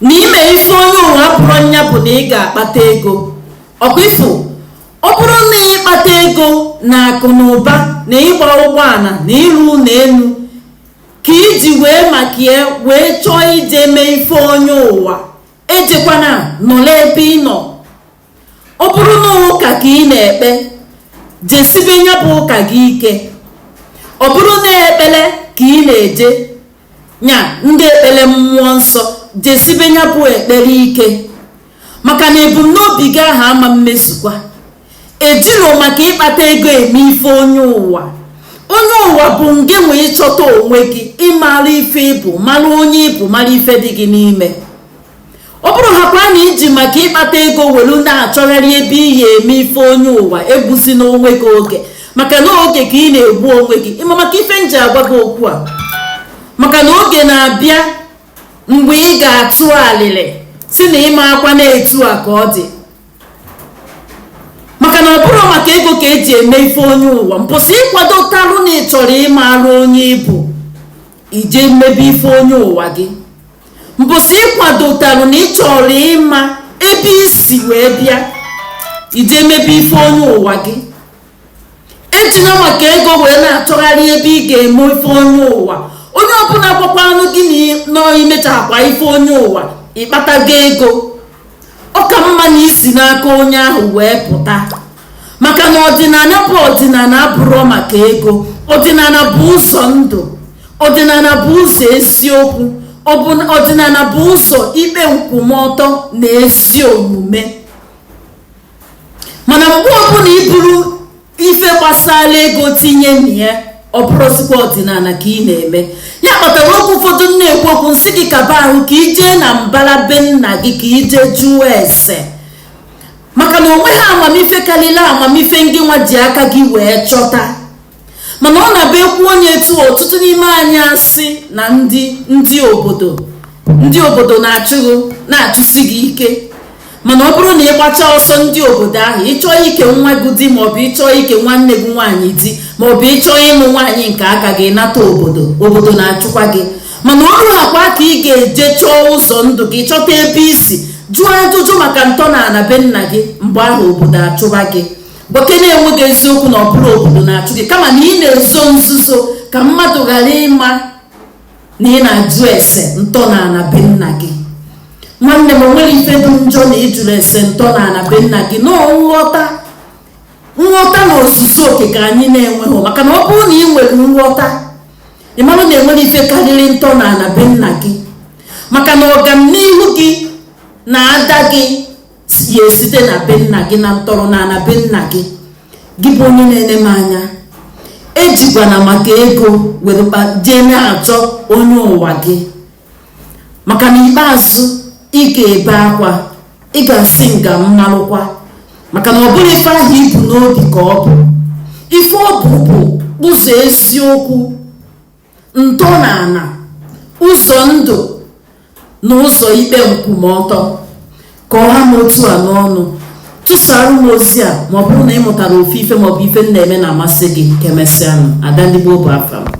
na ime ife onye ụwa bụrụ nya bụ na ị ga-akpata ego ọkwa ịfụ ọ bụrụ na ịkpata ego na akụ na ụba na ịgba ụgbọala na ịrụ ụlọ elu ka iji wee maka ya wee chọọ ije mee ife onye ụwa ejekwana nọlụ ebe ị nọ ọ bụrụ na ụka ka ị na-ekpe jesibe nya bụ ụka gị ike ọ bụrụ na ekpele ka ị na-eje nya ndị ekpele mmụọ nsọ jesibe nya bụ ekpere ike maka na ebumnobi gị ahụ ama mmezukwa ejirọ maka ịkpata ego eme ife onye ụwa onye ụwa bụ ngị nwa ịchọta onwe gị ịmara ife ịbụ mara onye ịbụ mara ife dị gị n'ime ọ bụrụ ha kwa na iji maka ịkpata ego welu na-achọgharị ebe iyi eme ife onye ụwa egbusina onwe gị oge maka na oge ka ị na-egbu onwe gị ịma maka ife nji agwa gị okwu a maka na oge na-abịa mgbe ị ga-atụ alịlị si na ịmaakwa na etu a ka ọ dị maka na ọ bụrọ maka ego ka eji eme ife onye ụwa mbọsị ịkwadotarụ na ị chọrọ ịmarụ onye ịbụ ije mebe ife onye ụwa gị mbọsị ịkwadotalụ na ị chọrọ ịma ebe isi wee bịa ije mebe ife onye ụwa gị ejina maka ego wee na-achọgharị ebe ị ga-eme ife onye ụwa onye ọbụla gwakwanụ gị na imechaakwa ife onye ụwa ịkpatago ego ọ ka mma na isi n'aka onye ahụ wee pụta maka na ọdịnala bụ ọdịnala abụrọ maka ego ọdịnala bụ ụzọ ndụ ọdịnala bụ ụzọ eziokwu ọdịnala bụ ụzọ ikpe nkwụmọtọ na ezi omume mana mgbe ọbụla iburu ife gbasara ego tinye na ya ọ bụrọzikwa ọdịnala ka ị na-eme ya kpatara okwu ụfọdụ m na-ekwu okwu nsị gị kaba ahụ ka ijee na mbara be nna gị ka ije jụọ ese maka na onweghị amamife karịrị amamife ngị nwa ji aka gị wee chọta mana ọ na-abụ ekwuo nya etu ọtụtụ n'ime anyị asị na ndị ndị obodo ndị obodo na-achụ gị na-achụsi gị ike mana ọ bụrụ na ị gbachaa ọsọ ndị obodo ahụ ịchọọ ike nwa gị di maọbụ ịchọọ ike nwanne gị nwaanyị di maọbụ ịchọọ ịnụ nwaanyị nke aka gị nata obodo na-achụkwa gị mana o ruekwa ka ị ga-eje chọọ ụzọ ndụ gị chọta ebe isi jụọ ajụjụ maka ntọ na ala be nna gị mgbe ahụ obodo achụba gị gwakene onwe gị eziokwu na ọ bụrọ obodo na-achụ gị kama na ị na-ezo nzuzo ka mmadụ ghara ịma na ị na-ajụ ese ntọnaana be nna gị nwanne m o nwere ife dị njọ na ịjụrụ ese ntọnaana be nna gị na nghọta nghọta na ozuzu oke ka anyị na-enweghị maka na ọ bụrụ na ị nwere nghọta ị mara na e nwere ife karịrị ntọnaana be nna gị maka na ọganihu gị na ada gị ya esite na be nna gị na ntọrọ na ana be nna gị gị bụ onye na-ene m anya ejikwana maka ego were jee na-achọ onye ụwa gị maka na ikpeazụ ị ga-ebe akwa ị ga-asị nga m malụkwa maka na ọ bụrọ ife ahụ i bu n'obi ka ọ bụ ife ọ bụ bụ ụzọ eziokwu ntọnaana ụzọ ndụ na ụzọ ikpe nkwụmọtọ ka ọ ha m otu a n'ọnụ tụsara m ozi a ma ọ bụrụ na ị mụtara ofu ife maọbụ ife m na-eme na-amasị gị ka emesịanụ ada ndigbo bụ afa m